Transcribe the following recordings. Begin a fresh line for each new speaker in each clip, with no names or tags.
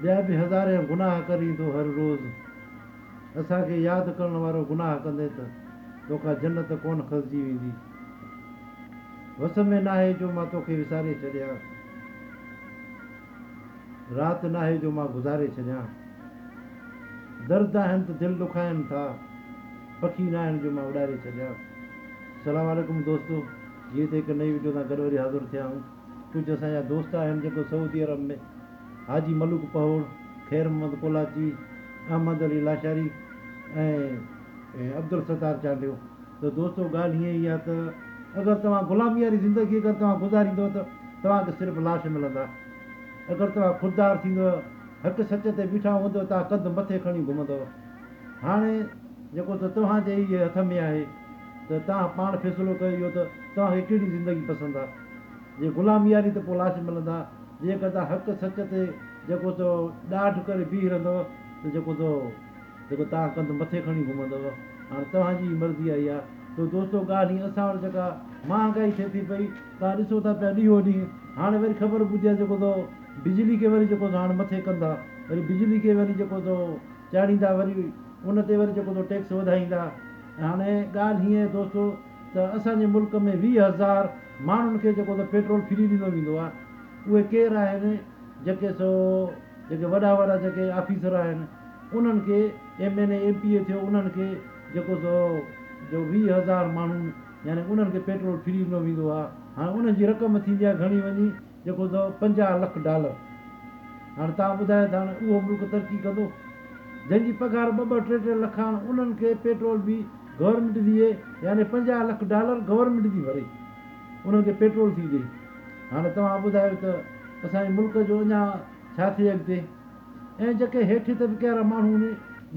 ٻيا به هزارين گناهه ڪرين ٿو هر روز اسان کي ياد ڪرڻ وارو گناهه ڪندين ته توکان جنت ڪونه کسجي ويندي وس ۾ ناهي جو مان توکي وساري ڇڏيان رات ناهي جو مان گذاري ڇڏيان درد آهن ته دل ڏکائن ٿا پکي ناهن جو مان اڏاري ڇڏيان سلام عليڪم دوستو جيئي ته هڪ نئي وڊيو سان گڏ وري حاضر ٿيا آهيون. ڪجهه اسان جا دوست آهن جيڪو سعودي عرب ۾ حاجي ملوڪ پهوڙ، خير محمد ڪولاچي، احمد علي لاشاري ۽ عبدالستار چانڊيو. ته دوستو ڳالهه هيئن ئي آهي ته اگر توهان غلامي واري زندگي اگر توهان گذاريندؤ ته توهان کي صرف لاش ملندا. اگر توهان خوددار ٿيندؤ، حق سچ تي بيٺا هوندؤ توهان ڪنڌ مٿي کڻي گهمندؤ. هاڻي جيڪو ته توهان جي ئي هٿ ۾ آهي ته توهان پاڻ فيصلو ڪيو اهو ته توهان کي ڪهڙي زندگي پسند آهي. جي غلام ياري ته پوء لاش ملندا، جيڪر توهان حق سچ تي جيڪو تو ڏاڍ ڪري بيهي رهندؤ ته جيڪو تو جيڪو توهان ڪنڌ مٿي کڻي گهمندؤ. هاڻ توهان جي ئي مرضي آئي آ. تو دوستو ڳالهه هيئن اسان وٽ جيڪا مهانگائي ٿئي ٿي پئي، توهان ڏسو ٿا پيا ڏينهون ڏينهن، هاڻ وري خبر ٻڌي آ جيڪو تو بجلي کي وري جيڪو تو هاڻ مٿي ڪندا، وري بجلي کي وري جيڪو تو چاڙهيندا، وري ان تي وري جيڪو تو ٽيڪس وڌائيندا ۽ هاڻي ڳالهه هيئن آهي دوستو! ته اسان جي ملڪ ۾ ويهه هزار ماڻهن کي جيڪو ته پيٽرول فري ڏنو ويندو آهي اهي ڪير آهن جيڪي سو جيڪي وڏا وڏا جيڪي آفيسر آهن انهن کي M N A M P A ٿيو انهن کي جيڪو سو جو ويهه هزار ماڻهن يعني انهن کي پيٽرول فري ڏنو ويندو آهي هاڻي انهن جي رقم ٿيندي آهي گهڻي وڃي جيڪو هوندو هو پنجاهه لک ڊالر. هاڻ توهان ٻڌايو ته هاڻ اهو ملڪ ترقي ڪندو؟ جن جي پگهار ٻه ٻه ٽي ٽي لک آهن انهن کي پيٽرول به گورنمينٽ ڏي يعني پنجاهه لک ڊالر گورنمينٽ ٿي ڀري انهن کي پيٽرول ٿي ڏي. هاڻ توهان ٻڌايو ته اسان جي ملڪ جو اڃا ڇا ٿئي اڳتي؟ ۽ جيڪي هيٺين طبقي وارا ماڻهو آهن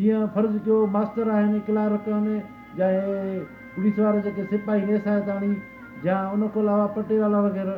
جيئن فرض ڪيو ماستر آهن، ڪلارڪ آهن يا هي پوليس وارا جيڪي سپاهي نيسائتاڻي يا ان کان علاوه پٽيوالا وغيره،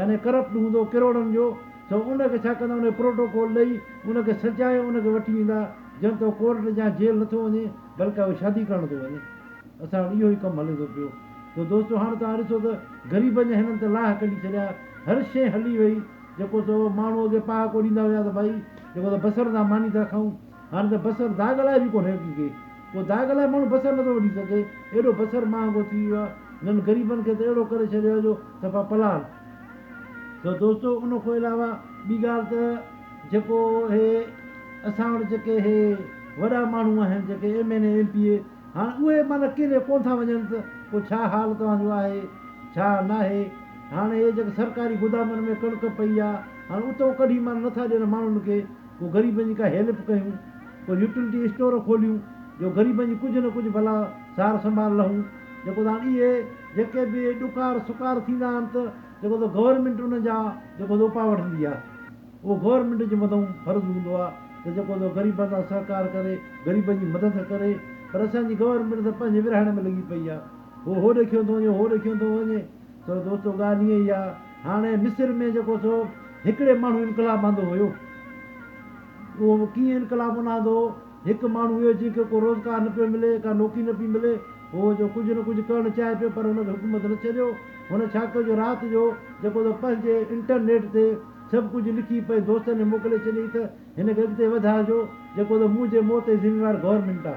يعني ڪرپٽ هوندو ڪروڙن جو سو ان کي ڇا ڪندا ان کي پروٽوڪول ڏئي ان کي سجائي ان کي وٺي ويندا جنهن تو ڪورٽ جا جيل نه ٿو وڃي بلڪ اهو شادي ڪرڻ ٿو وڃي اسان وٽ اهو ئي ڪم هلي ٿو پيو سو دوستو هاڻ توهان ڏسو ته غريبن جا هنن ته لاهه ڪڍي ڇڏيا هر شئي هلي وئي جيڪو سو ماڻهو اڳي پهاڪو ڏيندا هيا ته ڀائي جيڪو ته بصر سان ماني ٿا کائون هاڻي ته بصر داغ لاء به ڪونه رهيو ڪي ڪي ڪو داغ لاء ماڻهو بصر نٿو وڍي سگهي ايڏو بصر مهانگو ٿي ويو آهي هنن غريبن کي ته اهڙو ڪري ڇڏيو آهي جو صفا پلاڻ ٿيو دوستو ان کان علاوه ٻي ڳالهه ته جيڪو هي اسان وٽ جيڪي هي وڏا ماڻهو آهن جيڪي M N A M P A هاڻ اهي معنيٰ ڪيڏي ڪون ٿا وڃن ته پوء ڇا حال توهان جو آهي ڇا ناهي هاڻي هي جيڪي سرڪاري گودامن ۾ ڪڻڪ پئي آهي هاڻي اتو ڪڍي معنيٰ نٿا ڏين ماڻهن کي پوء غريبن جي ڪا هيلپ ڪيون، ڪو يوٽيلٽي اسٽور کوليون جو غريبن جي ڪجهه نه ڪجهه ڀلا سار سنڀال لهون، جيڪو سان اهي جيڪي به ڏڪار سڪار ٿيندا آهن ته جيڪو سو گورنمينٽ انهن جا جيڪو سو اپاء وٺندي آهي، اهو گورنمينٽ جي مٿئون فرض هوندو آهي ته جيڪو سو غريبن سان سهڪار ڪري، غريبن جي مدد ڪري، پر اسان جي گورنمينٽ ته پنهنجي ورهايڻ ۾ لڳي پئي آهي، هو هوڏي کيو ٿو وڃي، هو هوڏي کيو ٿو وڃي. سو دوستو ڳالهه اهي ئي آ هاڻي مصر ۾ جيڪو سو هڪڙي ماڻهو انقلاب آندو هيو اهو به ڪيئن انقلاب ان آندو هڪ ماڻهو هيو جنهن کي ڪو روزگار نه پيو ملي ڪا نوڪري نه پي ملي هو جو ڪجهه نه ڪجهه ڪرڻ چاهي پيو پر هن کي حڪومت نه ڇڏيو هن ڇا ڪيو جو رات جو جيڪو سو پنهنجي انٽرنيٽ تي سڀ ڪجهه لکي پنهنجي دوستن کي موڪلي ڇڏيائين ته هن کي اڳتي وڌائجو جيڪو سو منهنجي موت جي ذميوار گورنمينٽ آ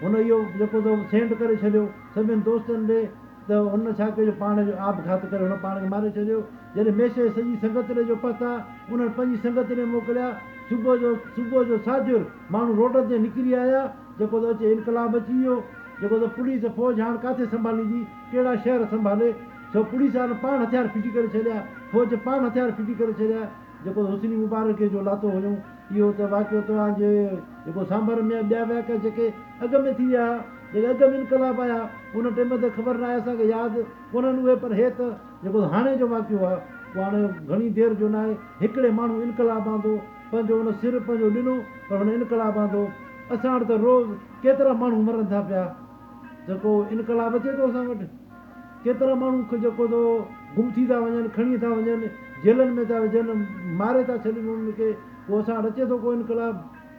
هن اهو جيڪو سو سينڊ ڪري ڇڏيو سڀين دوستن ڏي ته هن ڇا ڪيو جو پاڻ جو آپگهات ڪري هن پاڻ کي ماري ڇڏيو. جڏهن ميشيء جي سڄي سنگتڙي جو پهتا، انهن پنهنجي سنگتڙي موڪليا. صبح جو صبح جو ساجهر ماڻهو روڊن تي نڪري آيا، جيڪو ته اچي انقلاب اچي ويو، جيڪو ته پوليس فوج هاڻ ڪاٿي سنڀاليندي، ڪهڙا شهر سنڀالي، سو پوليس وارن پاڻ هٿيار ڦٽي ڪري ڇڏيا، فوج پاڻ هٿيار ڦٽي ڪري ڇڏيا، جيڪو ته حسني مبارڪيء جو لاتو هيون. اهو ته واقعو توهان جي جيڪو سانڀر ۾ آهي ٻيا واقعا جيڪي اڳ ۾ ٿي ويا جيڪي اڳ ۾ انقلاب آيا ان ٽيم تي خبر ناهي اسان کي ياد ڪونهن اهي پر هي ته جيڪو هاڻي جو واقعو آهي اهو هاڻي گهڻي دير جو ناهي هڪڙي ماڻهو انقلاب آندو پنهنجو ان سر پنهنجو ڏنو پر هن انقلاب آندو اسان وٽ ته روز ڪيترا ماڻهو مرن ٿا پيا جيڪو انقلاب اچي ٿو اسان وٽ. ڪيترا ماڻهو جيڪو سو گم ٿي ٿا وڃن، کڻي ٿا وڃن، جيلن ۾ ٿا وجهن، ماري ٿا ڇڏين انهن کي، پوء اسان وٽ اچي ٿو ڪو انقلاب؟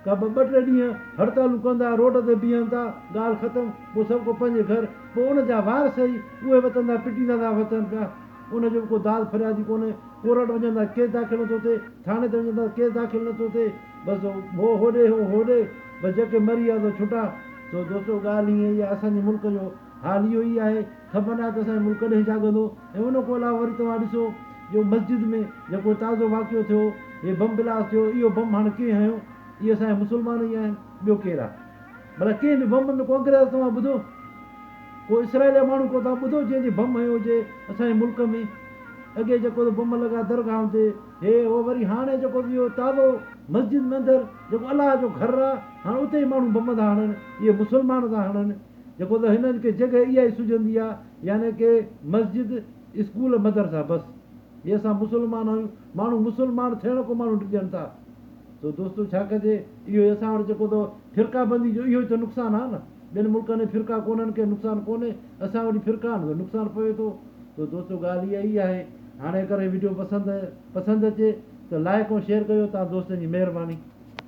ڪا ٻه ٽي ڏينهن هڙتالون ڪن ٿا، روڊ تي بيهن ٿا، ڳالهه ختم، پوء سڀ ڪو پنهنجي گهر، پوء ان جا وارث ئي اهي وتن تان پٽيندا ٿا وتن پيا، ان جو به ڪو داد فرياد ئي ڪونهي، ڪورٽ وڃن ٿا ڪيس داخل نٿو ٿئي، ٿاڻي تي وڃن ٿا ڪيس داخل نٿو ٿئي، بس هو هوڏي هو هوڏي، بس جيڪي مري ويا سو ڇٽا، سو دوستو ڳالهه ائين ئي آهي اسان جي ملڪ جو. حال اهو ئي آهي، خبر ناهي ته اسان جو ملڪ ڪڏهن جاڳندو ۽ ان کان علاوه وري توهان ڏسو جو مسجد ۾ جيڪو تازو واقعو ٿيو، هي بم بلاست ٿيو، اهو بم هاڻ ڪنهن هنيو؟ اهي اسان جا مسلمان ئي آهن، ٻيو ڪير آهي؟ ڀلا ڪنهن به بم ۾ ڪو انگريز توهان ٻڌو؟ ڪو اسرائيل جا ماڻهو ڪو توهان ٻڌو جنهن جي بم هنيو هجي اسان جي ملڪ ۾؟ اڳي جيڪو ته بم لڳا درگاهن تي، هي هو وري هاڻي جيڪو ته اهو تازو مسجد ۾ اندر جيڪو الله جو گهر آهي، هاڻ اتي ئي ماڻهو بم ٿا هڻن، اهي مسلمان ٿا هڻن. جيڪو ته هنن کي جڳهه اها ئي سجهندي آ يعني ڪي مسجد اسڪول مدرسا بس جي اسان مسلمان آهيون ماڻهو مسلمان ٿيڻ ڪو ماڻهو ڊڄن ٿا سو دوستو ڇا ڪجي اهو ئي اسان وٽ جيڪو ته فرقا بندي جو اهو ئي ته نقصان آ نه ٻين ملڪن ۾ فرقا ڪونهن ڪي نقصان ڪونهي اسان وٽ فرقا آهن نقصان پوي ٿو سو دوستو ڳالهه اها ئي آهي هاڻي اگر هي وڊيو پسند پسند اچي ته لائڪ ۽ شيئر ڪجو توهان دوستن جي مهرباني.